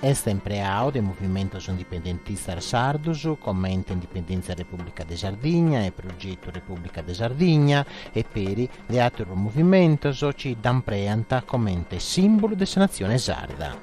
Est impreadu de movimentos indipendentistas sardos comente Indipendèntzia Repùblica de Sardigna e Progetu Repùblica de Sardigna e peri de àteros movimentos chi dda impreant comente sìmbulu de sa natzione sarda.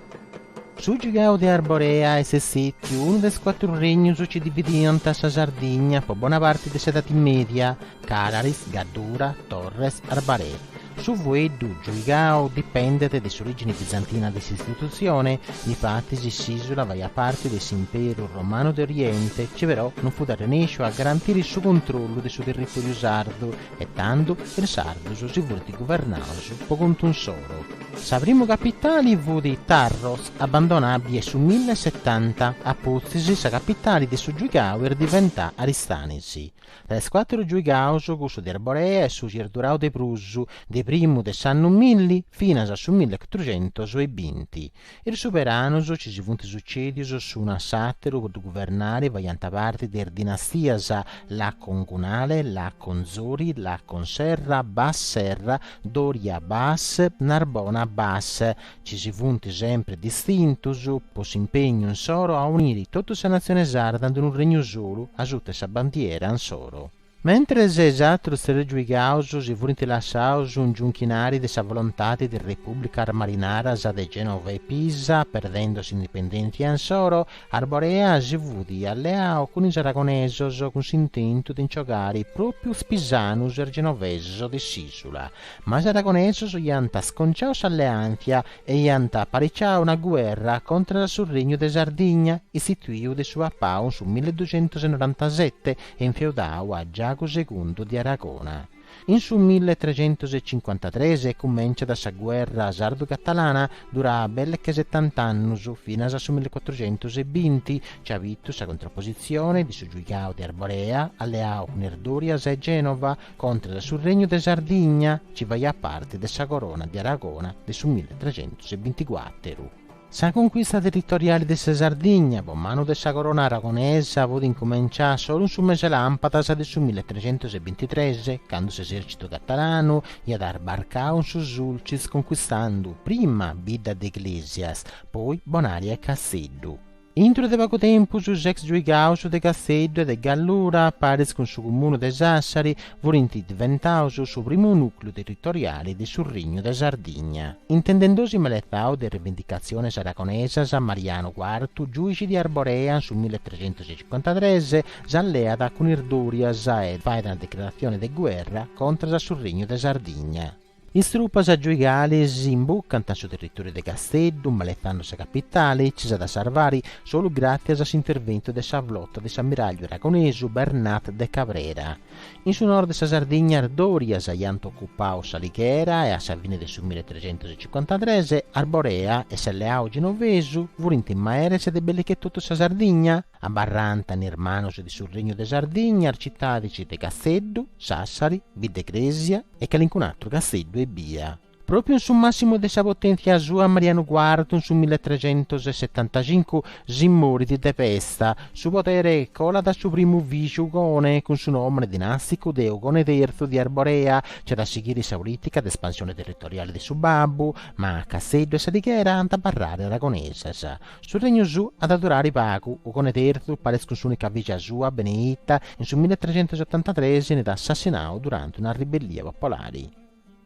Su Giuigau de Arborea est sètiu unu de is cuatru regnus chi dividiant sa Sardigna po bona parti de s'Edadi Mèdia, Cararis, Gaddura, Torres, Arbaree. Su fueddu giuigau dipendet de s'orìgine bizantina de s'istitutzione, difatis s'ìsula faiat parte de s'Imperu romanu de Oriente, chi però non fut arrenèsciu a garantire su controllu de su territòriu sardu e tando is sardus si funt guvernaus po contu insoro. Sa primu capitali fut Tharros, abandonada bia su mille e setanta, apustis sa capitali de su giuigau est diventada Aristanis. De is cuatru giuigaus cussu de Arborea est su chi est durau de prus, de primu de s'annu milli finas a su milli e cuatrucentus e binti. Is suberanos chi si funt sucèdius s'unu a s'àteru po guvernare, faiant parti de is dinastias Lacon-Gunale, Lacon-Zori, Lacon-Serra, Bas-Serra, Doria-Bas, Narbona-Bas, Chi si funt sempri distintus po s'impegnu insoro a uniri totu sa natzione sarda in unu regnu solu asuta 'e sa bandiera insoro. Mentres is atrus tres giuigaus si furint lassaus ingiunchinari de sa volontadi de Repúblicas Marinaras de Genova e Pisa, perdendo s'indipendentzia insoro, Arborea si fut alleau cun is aragonesos cun s'intentu de nci bogari própiu is pisanus e is genovesos de s'isula, Ma is aragonesos iant sconciau s'alleàntzia e iant apariciau una guerra contras su Regnu de Sardigna, istituiu de su papau in su milleducentosenoranta-sete e infeudau a Giagu Segundu de Aragona. In su milletregentosecincuantatres cumenciat sa guerra sardu-catalana, duraa belle che setant'annus, finas a su millecuatrucentosebinti, chi at bitu sa contrapositzione de su giuigau de Arborea, alleau cun is Dorias e Genova, Contra su Regnu de Sardigna, chi faiat parte de sa Corona de Aragona de su mille trecentus e binticuàteru. Sa conquista territoriale de sa Sardigna po manu de sa Corona aragonesa fut incumenciada solu in su mese làmpadas de su mille trecentus e bintitres, candu s'esèrcitu catalanu iat arbarcau in su Sulcis conquistando prima Bidda de Iglesias, poi Bonaria e Casteddu. Intro de pagu tempus s'ex giuigaus de Casteddu e de Gallura, paris cun su Cumunu de Sassari, furint diventaus su primu nùcleu territoriali de su Regnu de Sardigna. Intendendosi maletzau de rivindicatziones aragonesas, Marianu Cuartu, giùixi de Arborea in su mille trecentus e cincuantatres, s'alleat cun is Dòrias e fait una declaratzione de guerra contras su Regnu de Sardigna. Is trupas giuigalis imbucant in su territòriu de Casteddu, maletzando sa capitale, chi s'at a sarvare solu gràtzias a s'interventu de sa flota de s'amiràgliu aragonesu Bernat de Cabrera. In su nord de sa Sardigna is Dòrias iant ocupau s'Alighera e a sa fine de su mille trecentus e cincuantatres Arborea e s'alleau genovesu furint maeres de belle che totu sa Sardigna. Abarrant in is manus de su Regnu de Sardigna is citadis de Casteddu, Sassari, Biddecresia e calincun'atru casteddu ebbia. Pròpriu in su màssimu de sa poténtzia sua Marianu Cuartu in su milletrecentosetantacincu si morit de pesta, su podere colat a su primu fìgiu Ugone cun su nòmene dinàsticu de Ugone Terzu de Arborea, chi at a sighire sa polìtica de espansione territoriale de su babbu, ma Casteddu e S'Alighera ant a abarrare aragonesas. Su regnu suu at a durare pagu, Ugone terzu, paris cun s'unica fìgia sua, Beneitta, in su milletrecentosotantatres enit assassinau durante una ribellia popolare.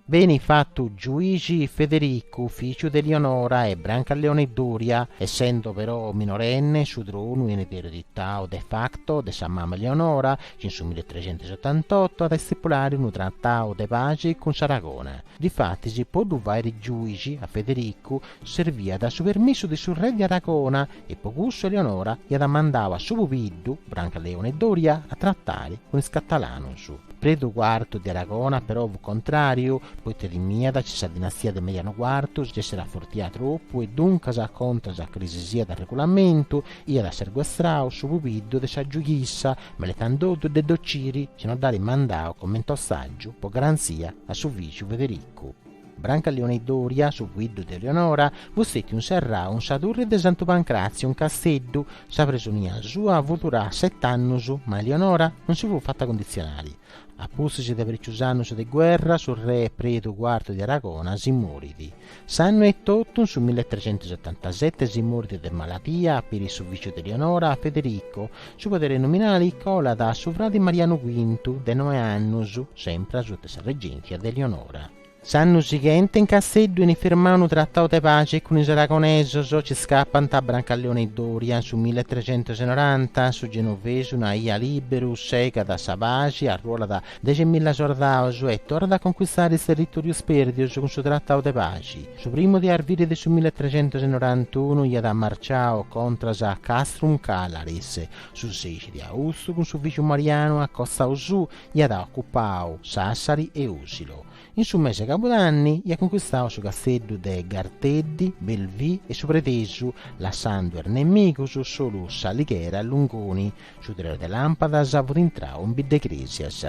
Benit fatu giuixi Federicu, fìgiu de Eleonora e Brancaleone Doria, essendo però minorenne, su tronu enit ereditau de facto de sa mama Eleonora, chi in su milletrecentosotantotu at a istipulare unu tratau de paxi cun s'Aragona. Difatis, po ddu fàere giuixi a Federicu, Serviat su permissu de su re de Aragona e po cussu Eleonora iat mandau a su pubiddu, Brancaleone Doria, a tratare cun is catalanos. Predu Cuartu de Aragona però fut contrariu, poita timiat chi sa dinastia de Marianu Cuartu s'esseret afortiada tropu e duncas, contras a calisisiat regulamentu, iat serguestrau su pubiddu de sa giughissa, meletzandoddu de dd'ociri, si no dd'aret mandau coment'ostàgiu po garanzia a su fìgiu Federicu. Brancaleone Doria, su pubiddu de Eleonora, fut stètiu inserrau in sa turri de Santu Pancràtziu in Casteddu. Sa presonia sua fut durada set'annus, ma Eleonora non si fut fata cunditzionari. A pustis de parìcius annus de guerra, su re Predu Cuartu de Aragona si morit. S'annu etotu, in su milletrecentusotantasete, si morit de malatia peri su fìgiu de Eleonora, Federico, Su podere nominali colat a su fradi Marianu Quintu, de noe annus, sempre asuta sa regèntzia de Eleonora. S'annu sighente in Casteddu enit firmau unu tratau de paxi cun is aragonesos, nci scapant Brancaleone Doria, su milletrecentosenoranta, su genovesu una ia lìberu, segat sa paxi, arruolat Dexi milla sordados e torrat a conquistare is territòrios pèrdios cun su tratau de paxi. Su primu de arviri de su milletrecentosenorantunu iat marciau contras a Castrum Callaris, su sexi de austu cun su fìgiu Marianu a costau suu iat ocupau Sassari e Osilo. In su mese de cabudanni iat conquistau su casteddu de Garteddi, Belvì e su Predesu, lassando a is nemigos solu s'Alighera e Lungoni. Su tres de làmpadas fut intrau in Bidda 'e Crèsias.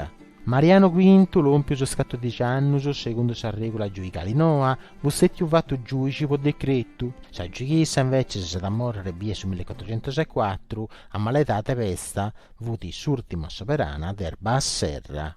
Mariano Quintu, lòmpius is catòrdici annus, segundu sa règula giuigale noa, fut stètiu fatu giùici po decretu. Sa giuighessa invècias s'at a mòrrere bia su milliecuatrocentus e cuatru, amaledà de pesta, fut s'ùrtima soberana de is Bas-Serra.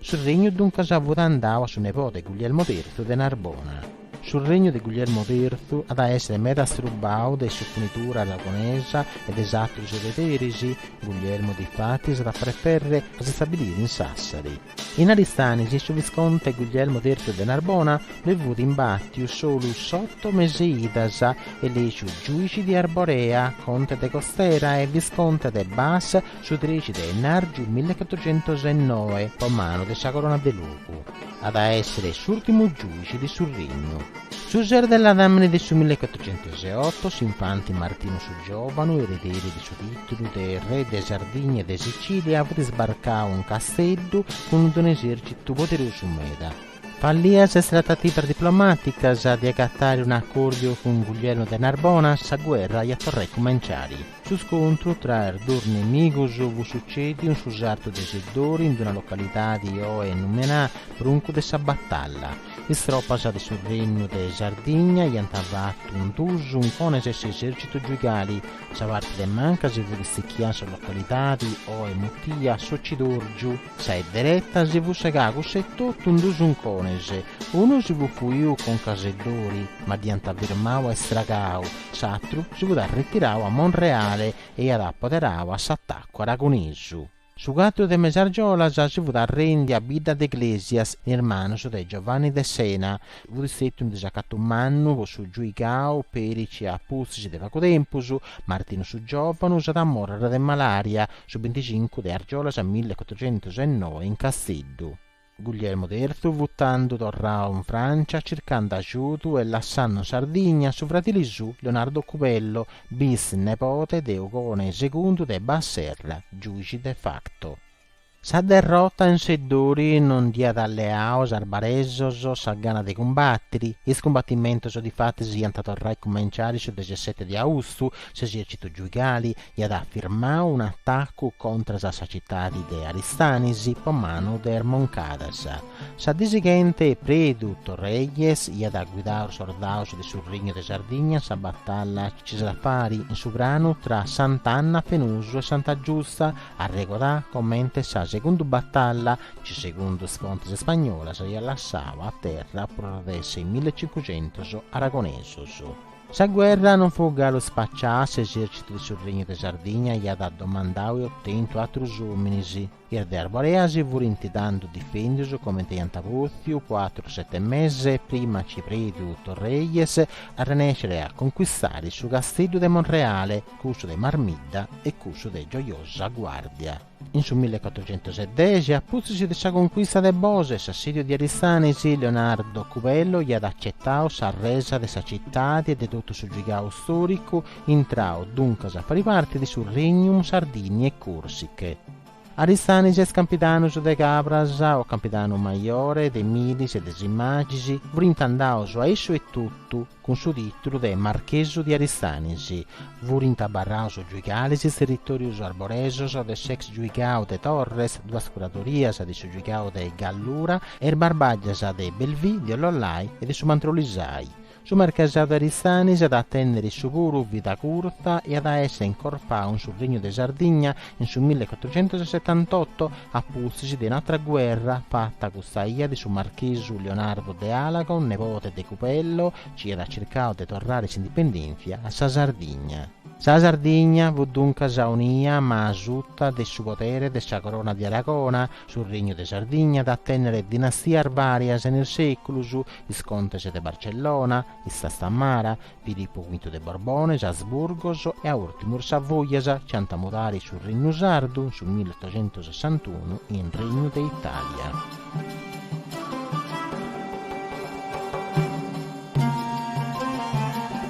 Su regnu duncas fut andau a su nebode Guglielmo Terzu de Narbona. Su regnu de Guglielmo Terzu at a èssere meda astrubau de s'oponidura aragonesa e de is atrus erederis, Guglielmo difatis at a preferrere a s'istabiliri in Sassari. In Aristanis su visconte Guglielmo Terzu de Narbona ddoi fut imbàtiu solu s'oto mese 'e idas, elèciu giùici de Arborea, conte de Costera e visconte de Bas, Su trexi de ennàrgiu millecatrucentos e noe, po manu de sa corona de logu, at a èssere s'ùrtimu giùici de su regnu. Su ses de ladàmene de su millecatrucentos e oto, s'infanti Martinu su Giòvanu, erederi de su tìtulu de re de Sardigna e de Sicìlia, fut isbarcau in Casteddu cun d-unu esèrcitu poderosu meda. Fallias is tratativas diplomàticas de agatare un'acòrdiu cun Guglielmu de Narbona, sa guerra iat torrai cumenciare. Su scontru tra is dus nemigos fut sucèdiu in su sartu de Seddori, in una localidadi oe numenà Bruncu de sa Batalla. Is tropas de su Regnu de Sardigna iant fatu in dus uncones a s'esèrcitu giuigali, sa parti de manca si fut istichià in sa localidadi oe mutia s'Ocidòrgiu, Sa 'e dereta si fut segà cussa etotu in duus uncones, unu si fut fuiu conca a Seddori, ma dd'iant firmau e stragau, s'atru si fut arretirau a Monreale e iat apoderau a s'atacu aragonesu. Su cuatru de mes'e argiolas si fut arrèndia Bidda de Iglesias in is manus de Giovanni de Sena, Fut stètiu unu disacatu mannu po su giuigau peri ci a pustis de pagu tempus, Martinu su giovanu s'at a morrere de malaria su binticincu de argiolas milli e cuatrocentus e noe in Casteddu. Guglielmu terzu fut tandu torrau in Francia circandu ajudu e lassandu in Sardigna su fratili suu Leonardo Cubello, bis-nepote de Ugone segundu de Basserra, giuixi de facto. Sa derrota in Seddori non dd'iat alleau is arbaresos sa gana de cumbatiri. Is cumbatimentos difatis iant a torrai cumenciari su dexiasete de austu, s'esercitu giuigali iat afirmau un'atacu contras a sa citadi de Aristanis po manu de is Moncadas. Sa dì sighenti Predu Torrelles iat guidau is sordaus de su Regnu de Sardigna in sa batalla ci s'at a fari in su pranu tra Sant'Anna, Fenosu e Santa Giusta, Arregodà comente sa segunda batalla, chi segundu is fontis spagnolas iat lassau a terra prus de seimilacincucentus aragonesus. Sa guerra non fut galu spacià, s'esèrcitu de su Regnu de Sardigna iat domandau e otentu atrus ominis, is de Arborea si furint tandu difèndius comente iant potziu po atrus sete meses prima chi Predu Torrelles arrenèscere a conquistare su Casteddu de Monreale, cussu de Marmidda e cussu de Gioiosa Guàrdia. In su mille cuatrochentus e dexi, a pustis de sa concuista de Bosa e s'assìdiu de Aristanis, Leonardo Cubello iat acetau sa resa de sa citadi e de totu su giuigau stòricu, intrau duncas a fai parti de su Regnum Sardiniae Corsicae. Aristanis e is Campidanus de Cabras, o Campidanu Maiore, de Milis e de Simagis, furint andaus a issu etotu cun su titulu de Marchesu di Aristanis. Furint abarraus giuigalis, is territorius arboresos de s'ex giuigau de Torres, duas curadorias de su giuigau de Gallura e is barbàgias de Belvì, di Ollollai e de su Mandrolisai. Su marchesau de Aristanis at a tènnere issu puru vida curta e at a èssere incorpau in su Regnu de Sardigna in su mille cuatrucentus e setantotto, a pustis de un'atra guerra fata custa ia de su marchesu Leonardo de Alagon, nebote de Cubello, chi iat circau de torrare s'indipendèntzia a sa Sardigna. Sa Sardigna fut duncas aunia ma asuta de su podere de sa Corona de Aragona. Su Regnu de Sardigna at a tènnere dinastias vàrias in is sèculus, is contes de Barcellona, is Trastamara, Filipu Quintu de Borbone, is Asburgos e a ùrtimus is Savoias chi ant a mudare su Regnu Sardu in su millotoxentosessantunu in Regnu de Itàlia.